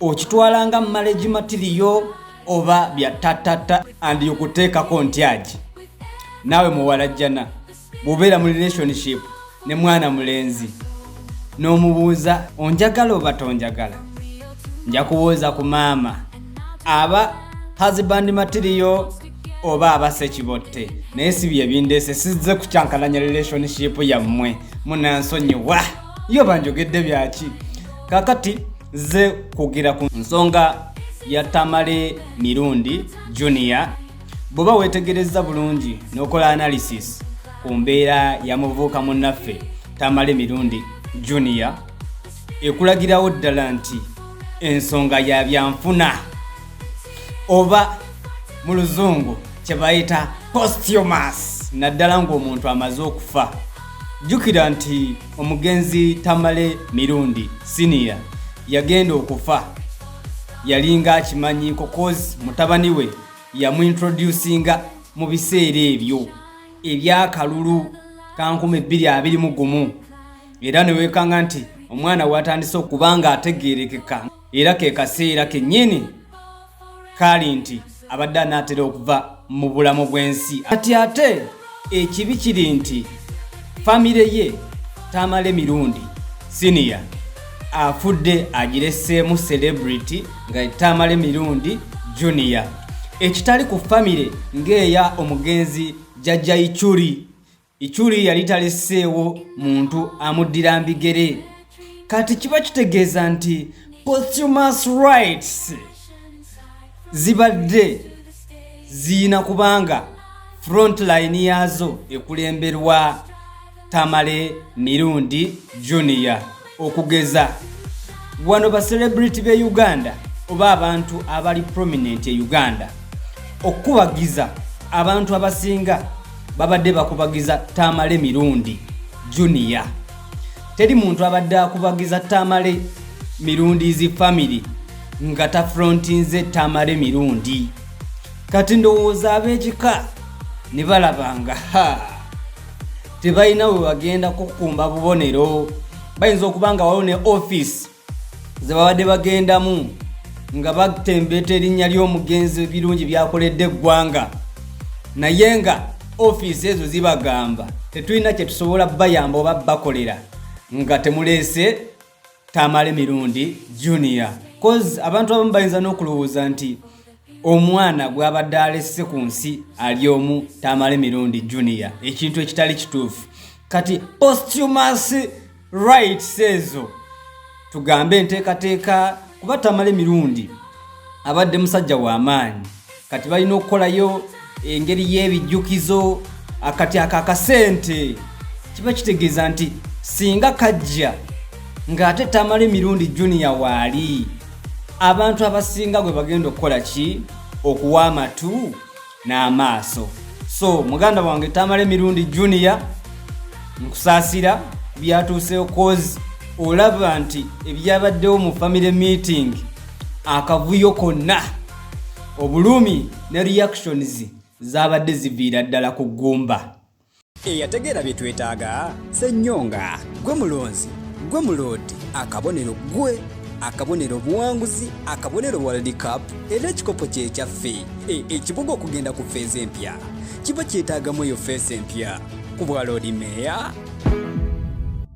okitwala nga marriage material oba bya tatata and yokuteekako ntyagi naawe muwalajjana bwobeera mu relationship ne mwana mulenzi n'omubuuza onjagala oba tonjagala nja kubuuza ku maama aba husband material oba abasa ekibotte naye si byebindeese sizze kukyankalanya relationship yammwe munansonyiwa yo banjogedde byaki kakati ze kugira ku nsonga ya tamale mirundi junior bwoba wetegereza bulungi nokola analysis ku mbeera ya muvuuka munnaffe tamale mirundi junior ekulagirawo ddala nti ensonga ya byanfuna oba mu luzungu kyebayita postumas naddala ng'omuntu amaze okufa jjukira nti omugenzi tamale mirundi siniya yagenda okufa yalinga akimanyi kokozi mutabani we yamuintroducinga mu biseera ebyo ebyakalulu kankumi bbiri abiri mu gumu era newekanga nti omwana watandise okuba nga ategerekeka era ke kaseera kennyini kaali nti abadde anaatera okuva mu bulamu bw'ensi kati ate ekibi kiri nti famire ye tamale mirundi siniya afudde agireseemu celebrity nga tamale mirundi junia ekitali ku famire ng'eya omugenzi jajja icuri Ichuli yali taliseewo muntu amuddira mbigere kati kiba kitegeeza nti posthumous rights zibadde ziyina kubanga frontline yaazo ekulemberwa tamale mirundi junior okugeza wano ba celebrity be uganda oba abantu abali prominent e uganda okukubagiza abantu abasinga babadde bakubagiza tamale mirundi junior teri muntu abadde akubagiza tamale mirundi zi famiry nga tafrontinze tamale mirundi kati ndowooza ab'ekika ne balabanga haa tebalina we bagenda kukumba bubonero bayinza okuba nga waliwo ne ofiisi ze babadde bagendamu nga batembeeta erinnya ly'omugenzi birungi byakoledde eggwanga naye nga ofiisi ezo zibagamba tetulina kye tusobola bayamba oba bakolera nga temuleese Tamale Mirundi Junior cause abantu abamu bayinza n'okulowooza nti omwana gw'abadde alesse ku nsi ali omu Tamale Mirundi Junior ekintu ekitali kituufu kati posthumous rights ezo tugambe enteekateeka kuba Tamale Mirundi abadde musajja w'amaanyi kati balina okukolayo engeri y'ebijjukizo akati ako akasente kiba kitegeeza nti singa kajja ng'ate tamale mirundi juniya waali abantu abasinga gwe bagenda okukola ki okuwa amatu n'amaaso so muganda wange tamale mirundi juniya nkusaasira byatuuseewo kozi olaba nti ebyabaddewo mu family meeting akavuyo konna obulumi ne reactions zaabadde ziviira ddala ku ggumba eyategeera bye twetaaga sennyonga gwe mulonzi gwe muloodi akabonero gwe akabonero obuwanguzi akabonero world cup era ekikopo kyekyaffe e, ekibuga okugenda ku feeza empya kiba kyetaagamu eyo feesa empya ku bwaloodi meeya